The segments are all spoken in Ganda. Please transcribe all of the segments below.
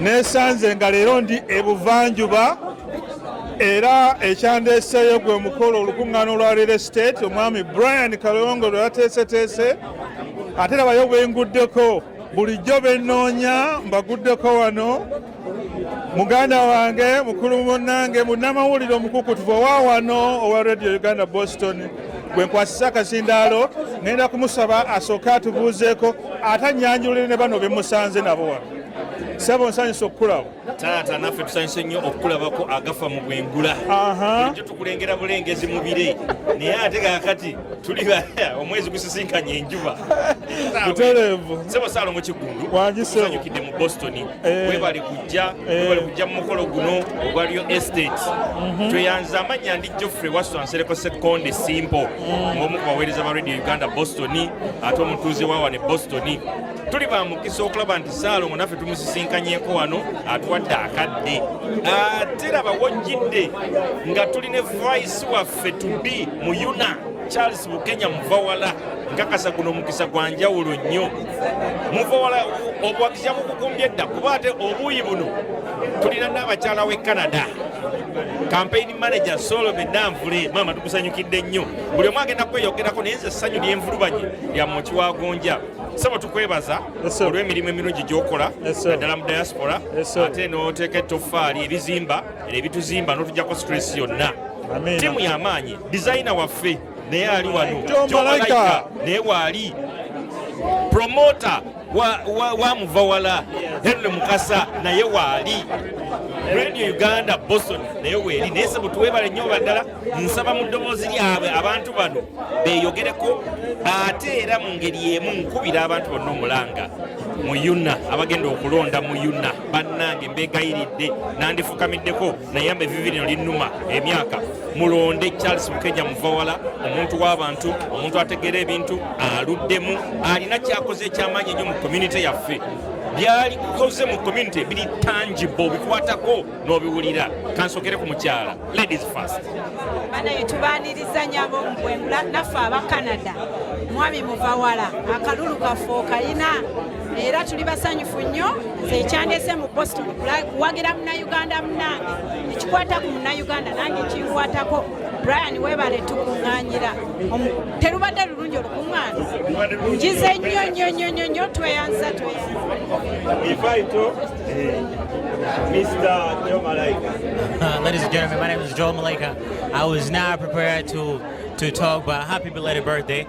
nesanze nga leero ndi ebuvanjuba era ekyandeeseeyo gwe mukolo olukuŋŋaana olwa real estate omwami brian kalongo lwe yateeseteese ate labayo bwenguddeko bulijjo bennoonya mbaguddeko wano muganda wange mukulu munange munnamawulire omukukutuvu owa wano owa radio uganda boston gwe nkwasisa akazindaalo ŋenda kumusaba asooke atubuuzeeko ate anyanjulire ne bano bemusanze nabo wano sebo nsanyusa okukulaba taata naffe tusanyuse nnyo okukulabako agafa mu bwengula ekyo tukulengera bulengezi mu bire naye ate kakati tuli omwezi gusisinkanye enjuba butereevu sebo saalo mu kigundu usanyukidde mu boston eh. webali kujja eh. webali kujja mu mukolo guno ogwaliyo estate mhm. tweyanza amannya Geoffrey Wasswa Nsereko Ssekkonde Simpo ng'omu ku baweereza ba Radio Uganda Boston ate omutuuze wa wano e Boston tuli ba mukisa okulaba nti Ssaalongo naffe tumusisinkanyeko wano atuwadde akadde ate laba wojjidde nga tuli ne vice waffe to be mu yuna charles bukenya muvawala nkakasa guno omukisa gwa njawulo nnyo muvawala obuwagizi yabukugumbye dda kuba ate obuuyi buno tulina n'abakyala w'e canada Campaign manager Solo Benanvule mama tukusanyukidde nnyo buli omu agenda kweyogerako naye nze essanyu lyenvulubanye lya moki wa gonja sebo tukwebaza olw'emirimu emirungi gyokola naddala mu diaspora ate n'oteeka ettoffaali ebizimba era ebituzimba n'otujjako stress yonna tiimu y'amaanyi dizayina waffe naye ali wano naye waali promota wamuva wala henry mukasa naye waali radio uganda boston naye weeri naye sebo tuwebale nyo baddala nsaba mu ddoboozi lyabwe abantu bano beyogereko ate era mu ngeri emu nkubira abantu bonna omulanga mu yuna abagenda okulonda mu yuna bannange mbegayiridde nandifukamiddeko nayamba evivi lino linnuma emyaka mulonde charles mukenya muvawala omuntu w'abantu omuntu ategeera ebintu aluddemu alina kyakoze ekyamaanyi ennyo mu community yaffe byalikoze mu community biri tangible bikwatako n'obiwulira kansokere ku mukyala ladies first banaye tubaniriza nyabo mbwengula naffe aba canada mwami muvawala akalulu kaffe okayina era tuli basanyufu nnyo nze ekyandese mu boston kuwagira munauganda munange ekikwata ku munauganda nange kinkwatako brian webale tukuŋanyira terubadde lulungi olukuŋŋaana njize nnyo nnyo nnyo nnyo nnyo tweyanza tweyanza Mr. Joe Malaika. Uh, ladies and gentlemen, my name is Joe Malaika. I was not prepared to, to talk, but happy belated birthday.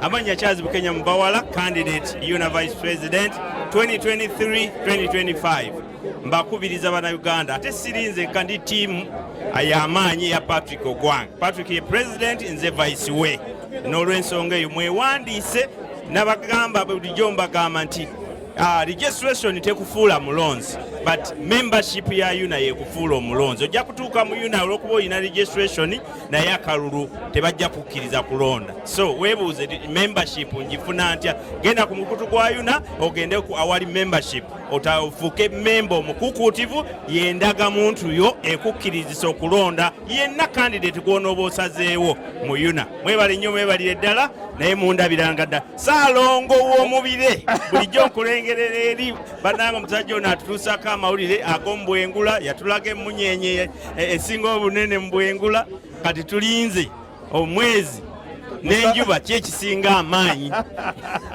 Amanya Charles Bukenya Mubawala, candidate UNA Vice President 2023-2025. Mbakubiriza bana Uganda ate sirinze kandi team ayamaanyi ya Patrick Ogwang. Patrick ye president nze vice we. N'olwensonga eyo mwewandiise nabagamba bulijjo mbagamba nti Uh, registration tekufuula mulonzi but membership ya yuna yekufuula omulonzi ojja kutuuka mu yuna olwokuba olina registration naye akalulu tebajja kukkiriza kulonda so webuuze membership njifuna ntya genda ku mukutu gwa yuna ogende ku awali membership otafuuke memba omukukuutivu yendaga muntu yo ekukkirizisa okulonda yenna kandidate gwonooba osazeewo mu yuna mwebale nnyo mwebalire ddala naye mundabiranga dda saalongo w'omubire bulijjo nkulengerera eri bananga omusajja ono atutuusako amawulire ag'omubwengula yatulaga emmunyeenye e, esinga obunene mu bwengula kati tulinze omwezi n'enjuba ki ekisinga amaanyi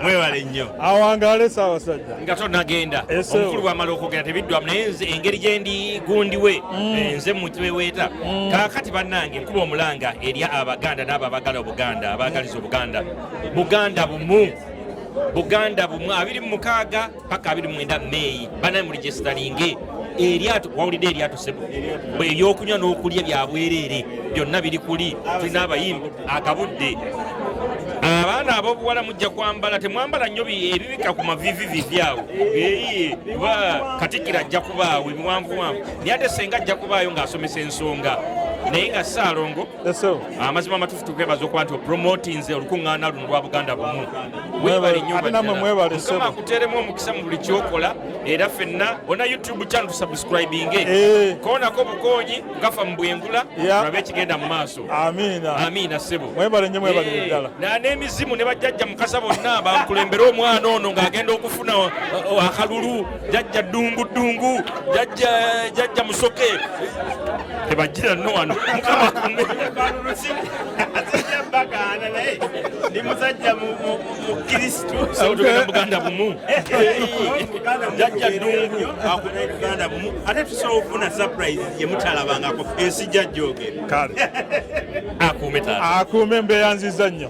mwebale nnyo awangaale saawa sajja nga tonagenda omukulu bwamala okwogera tebiddwamu naye nze engeri gye ndi gundi we mm. eh, nze mutweweeta mm. kaakati bannange nkuba omulanga eri abaganda n'abo abagala obuganda abaagaliza obuganda buganda bumu buganda bumu abiri mu mukaaga paka abiri mwenda meeyi banaye mu regisitalinge eryato wawulidde eryato sebo ebyokunywa n'okulya byabwereere byonna biri kuli tulina abayimbi akabudde abaana abobuwala mujja kwambala temwambala nnyo ebibika ku mavivivivi awo ba katikira ajja kubaawo ebiwanvuwanvu naye ate senga ajja kubaayo ng'asomesa ensonga naye nga saalongo amazima amatufu tukwebaza okuba nti opromotinze olukuŋŋaana luno lwa buganda bumu webale nnyobamukama akuteeremu omukisa mu buli kyokola era fenna ona youtube channel tusubscribinge eh. koonako obukoonyi gafa mu bwengula olabe ekigenda mu maaso amiina ssebo eh, n'emizimu ne bajjajja mukasa bonna bankulembere omwana ono ng'agenda okufuna akalulu jajja dungu dungu jajja jajja musoke tebajira no wano mukama kumbe bagana naye ndi musajja mukristu tugenda buganda bumu jajja dungu akuna buganda bumu ate tusobola okufuna surprise yemutalabangako ensi jajja ogera akuume embeera nziza nnyo